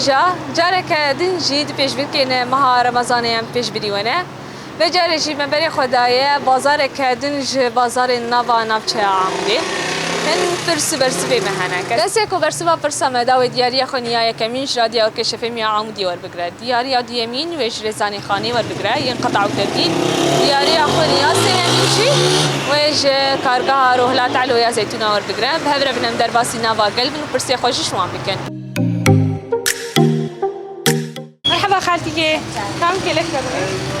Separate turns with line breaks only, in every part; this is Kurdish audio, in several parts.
hêja careke din jî di pêşbirkên meha Remezanê em pêşbirî wene. Ve carê jî me berê xwe daye bazareke din ji bazarên nava navçeya Amûdê. Hin pirs û bersivê me hene. Kesê ku bersiva pirsa me da wê diyariya xwe niya yekemîn ji radya Orkê Şefêmiya Amûdê Diyariya duyemîn wê ji Rêzanîxanê werbigire yên qeta û tevgîn. Diyariya xwe ya sêyemîn jî wê ji Kargeha Rohila Telo ya Zeytûna werbigire. Bi hev re bin em derbasî nava gel bin û pirsê xwe jî ji wan bikin. Merheba xaltîkê. Kam kêlek te bixwîst?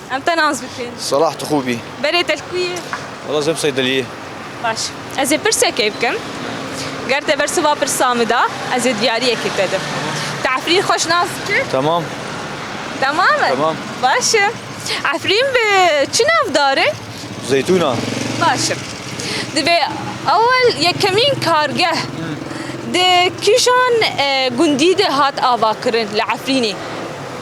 Em te
nas bikin.
Salah tu xû bî.
Berê te li ku yê?
Wela zeb seydeliyê.
Baş.
Ez ê pirsekê bikim. Ger te bersiva pirsa min da, ez ê diyariyekê te dim. Tu Efrîn xweş nas dikî? Temam.
Temam
e? Temam. Baş
e.
Efrîn bi çi nav dar e? Zeytûn a.
Baş e.
Divê ewel yekemîn kargeh di kîjan gundî de hat avakirin li Efrînê?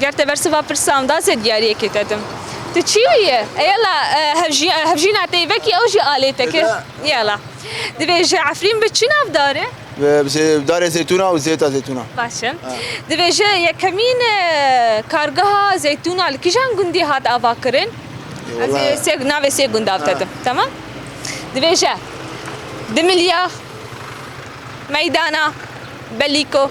Ger te bersiva pirsa em da zêd diyariyekê te dim. Tu çî wî yî? Yala hevjîna te yî vekî ew jî alê te kir. Yala. Divê ji Efrîn bi çi nav darê? Bi darê
zeytûna û zêta zeytûna. Baş e.
Divê ji yekemîn kargeha zeytûna li kîjan gundî hat avakirin? Ez ê sê navê sê gundav te dim. Temam? Divê ji Dimilya, Meydana, Belîko,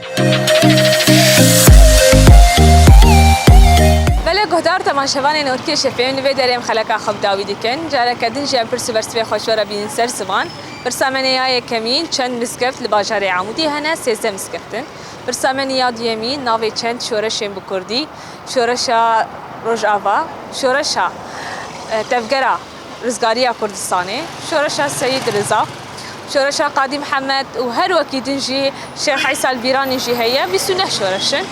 Belê guhdar temaşevanên Orkê Şefê li vê derê em xeleka xwe bi dawî dikin. Careke din jî em pirs û bersivê xwe ji we re bînin ser ziman. Pirsa me ne ya yekemîn, çend mizgeft li bajarê Amûdê hene? Sêzdeh mizgeft in. Pirsa me ne ya duyemîn, navê çend şoreşên bi kurdî, şoreşa Rojava, şoreşa Tevgera, Rizgariya Kurdistanê, Şoreşa Seyîd Riza, Şoreşa Qadî Mihemed û her wekî din jî Şêx Îsa li Bîranê jî heye, bîst û neh şoreş in.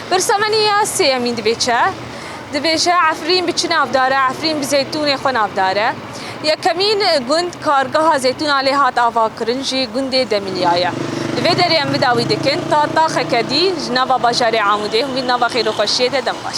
Pirsa me nîya sêyemîn divê çi? Dibêje Efrîn bi çi navdare, Efrîn bi zeytûnê xwe navdare. Yekemîn gund kargeha zeytûna lê hat avakirin jî gundê Demilya ye. Li vê derê em vida wî dikin ta taxeke dî ji nava bajarê Amûdê hûn vî nava xêroxweşiyê de dem baş.